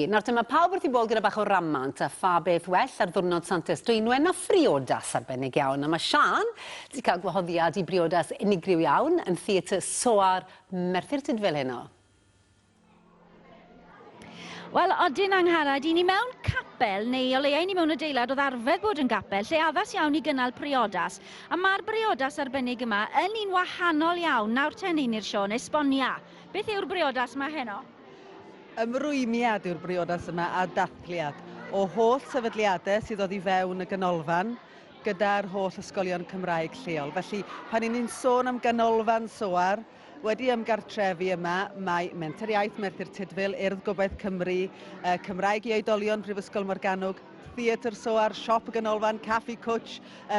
Nawr te, mae pawb wrth i bol gyda bach o ramant, a pha beth well ar ddiwrnod Santes Dwynwen na phriodas arbennig iawn, a mae Siân 'di cael gwahoddiad i briodas unigryw iawn yn Theatr Soar Merthyr Tudful heno. Wel, odyn, Angharad, i ni mewn capel, neu o leia i ni mewn adeilad oedd arfer bod yn gapel, lle addas iawn i gynnal priodas. A mae'r briodas arbennig yma yn un wahanol iawn. Nawr te, Neini'r Siôn, esbonia. Beth yw'r briodas yma heno? Ymrwymiad yw'r briodas yma a dathliad o holl sefydliadau sydd oddi fewn y ganolfan gyda'r holl ysgolion Cymraeg lleol. Felly, pan yn ni'n sôn am ganolfan Soar, wedi ymgartrefu yma, mae Menter Iaith Merthyr Tudful, Urdd Gobaith Cymru, Cymraeg i Oedolion Prifysgol Morgannwg, Theatr Soar, Siop y Ganolfan, Caffi Cwtsh,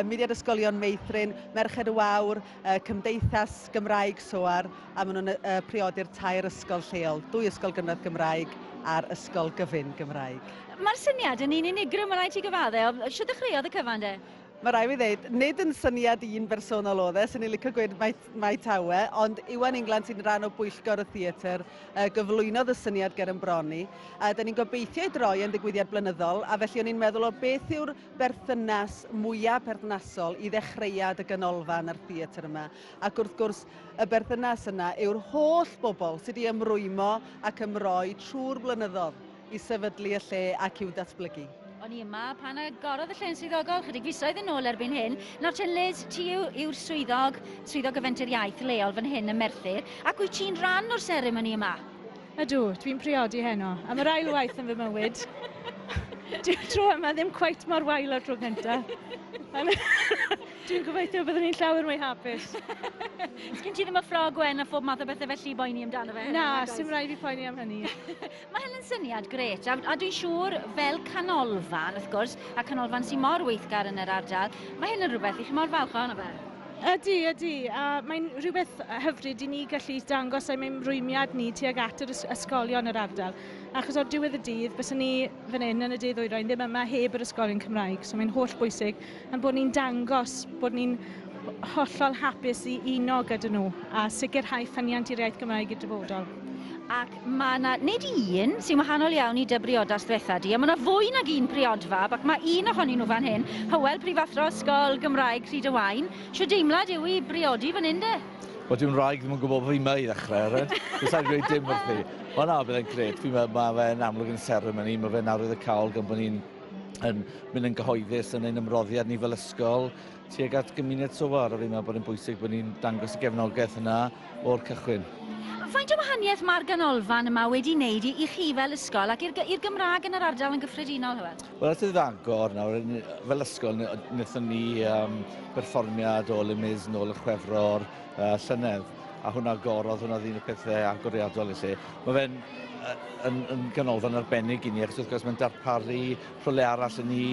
Mudiad Ysgolion Meithrin, Merched y Wawr, y Cymdeithas Gymraeg SOAR a maen nhw'n priodi'r tair ysgol lleol, dwy ysgol gynradd Gymraeg a'r ysgol gyfun Gymraeg. Mae'r syniad yn un unigryw, mae rhaid ti gyfadde. Siwt ddechreuodd y cyfan de? Mae rhaid fi ddeud, nid yn syniad un bersonol oedd e, sy'n ni licio gweud mai, mai tawe, ond Iwan England sy'n rhan o bwyllgor y theatr uh, gyflwynodd y syniad ger yn bron ni. Uh, da ni'n gobeithio ei droi yn ddigwyddiad blynyddol, a felly o'n i'n meddwl o beth yw'r berthynas mwya' perthnasol i ddechreuad y Ganolfan a'r theatr yma, ac wrth gwrs y berthynas yna yw'r holl bobl sy' 'di ymrwymo ac ymroi trwy'r blynyddodd i sefydlu y lle ac i'w datblygu. O'n i yma pan agorodd y lle yn swyddogol chydig fisoedd yn ôl erbyn hyn. Nawr te Liz, ti yw yw'r swyddog, Swyddog y Fenter Iaith leol fan hyn ym Merthyr, ac wyt ti'n rhan o'r seremoni yma? Ydw, dwi'n priodi heno. Am yr ail waith yn fy mywyd. Dwi'n tro yma ddim cweit mor wael o'r tro cynta. Dwi'n gobeithio byddwn ni'n llawer mwy hapus. Sgyn ti ddim y ffrog wen a phob math o bethau felly boeni amdano fe? Na, sy'n rhaid i poeni am hynny. Mae hynny'n syniad gret, a, a dwi'n siŵr fel canolfan, wrth gwrs, a canolfan sy'n mor weithgar yn yr ardal, mae hyn yn rhywbeth i chi mor falch ohono fe. Ydy, ydy, a mae'n rhywbeth hyfryd i ni gallu dangos ein ymrwymiad ni tuag at yr ysgolion yr ardal. Achos o'r diwedd y dydd, bys ni fan hyn yn y dydd oerau, ddim yma heb yr ysgolion Cymraeg. So mae'n holl bwysig yn bod ni'n dangos bod ni'n hollol hapus i uno gyda nhw a sicrhau ffyniant i'r iaith Gymraeg i'r dyfodol. Ac Mae yna nid un sy'n wahanol iawn i dy briodas ddiwetha di, a mae yna fwy nag un priod fab, ac mae un ohonyn nhw fan hyn, Hywel, Prifathro Ysgol Gymraeg Rhyd y Waun. Shwd deimlad yw i briodi fan hyn de? Wel, dyw'n wraig ddim yn gwybod bod fi yma i ddechrau, Eren. Dwi'n sa'n dweud dim wrthi. Ond na, bydd e'n gred. Fi'n meddwl mae fe'n amlwg yn seremoni. Mae fe'n arwydd y cawl gan bod ni'n yn mynd yn gyhoeddus yn ein ymroddiad ni fel ysgol tuag at gymuned Sowar a fi'n meddwl bod e'n bwysig bod ni'n dangos y gefnogaeth yna o'r cychwyn. Faint o wahaniaeth mae'r ganolfan yma wedi wneud i, i chi fel ysgol ac i'r Gymraeg yn yr ardal yn gyffredinol, Hywel? Wel, at ddagor nawr, fel ysgol, wnaethon ni um, berfformiad o Le Mis nôl yn chwefro'r uh, llynedd a hwnna gorodd, hwnna ddyn y pethau agoriadol i lle. Mae fe'n yn, yn ganolfan arbennig i ni, achos wrth gwrs mae'n darparu rhywle arall i ni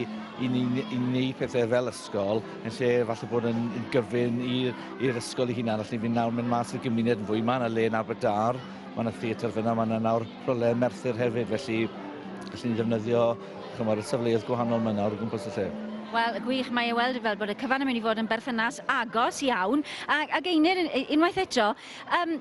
i ni i wneud pethau fel ysgol yn lle falle bod yn gyfyn i'r ysgol ei hunan. Allwn ni fynd nawr mynd mas i'r gymuned yn fwy. Mae yna le yn Aberdâr, mae yna theatr fyna, mae yna nawr rhywle yn Merthyr hefyd, felly allwn ni ddefnyddio chymod, y safleoedd gwahanol mae nawr o gwmpas y lle. Wel, gwych, mae e weld fel bod y cyfan yn mynd i fod yn berthynas agos iawn. Ac, ac Einir, unwaith eto, um,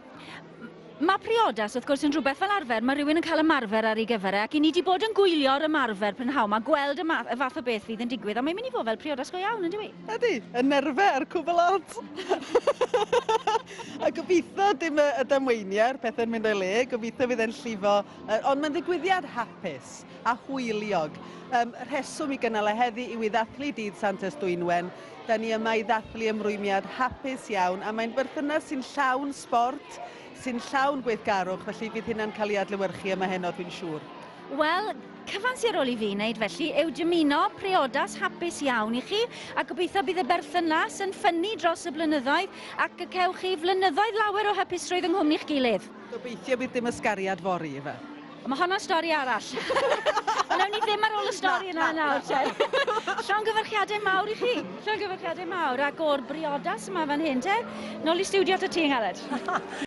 Mae priodas, wrth gwrs, yn rhywbeth fel arfer, mae rhywun yn cael ymarfer ar ei gyfer e, ac i ni wedi bod yn gwylio'r ymarfer prynhawn mae gweld y, ma y fath o beth fydd yn digwydd, ond mae'n mynd i fod fel priodas go iawn, yn dyw i? Ydy, y nerfau a'r cwbl lot. a gobeithio dim y, y damweiniau a'r pethau'n mynd o'i le, gobeithio fydd e'n llifo, uh, ond mae'n ddigwyddiad hapus a hwyliog. Um, rheswm i gynnal e heddi yw i ddathlu dydd Santes Dwynwen, Da ni yma i ddathlu ymrwymiad hapus iawn a mae'n berthynas sy'n llawn sbort, sy'n llawn gweithgarwch, felly bydd hynna'n cael ei adlewyrchu yma heno dwi'n siŵr. Wel, cyfan sy ar ôl i fi wneud felly yw dymuno priodas hapus iawn i chi a gobeithio bydd y berthynas yn ffynnu dros y blynyddoedd ac y cewch chi flynyddoedd lawer o hapusrwydd yng nghwmni'ch gilydd. Gobeithio bydd dim ysgariad fory, Eva. Ond mae honno'n stori arall. Ond ewn ni ddim ar ôl y stori yna nawr, te. Llongyfarchiadau mawr i chi. Llongyfarchiadau mawr, ac o'r briodas yma fan hyn, te. Nôl i stiwdio ta ti, Angharad.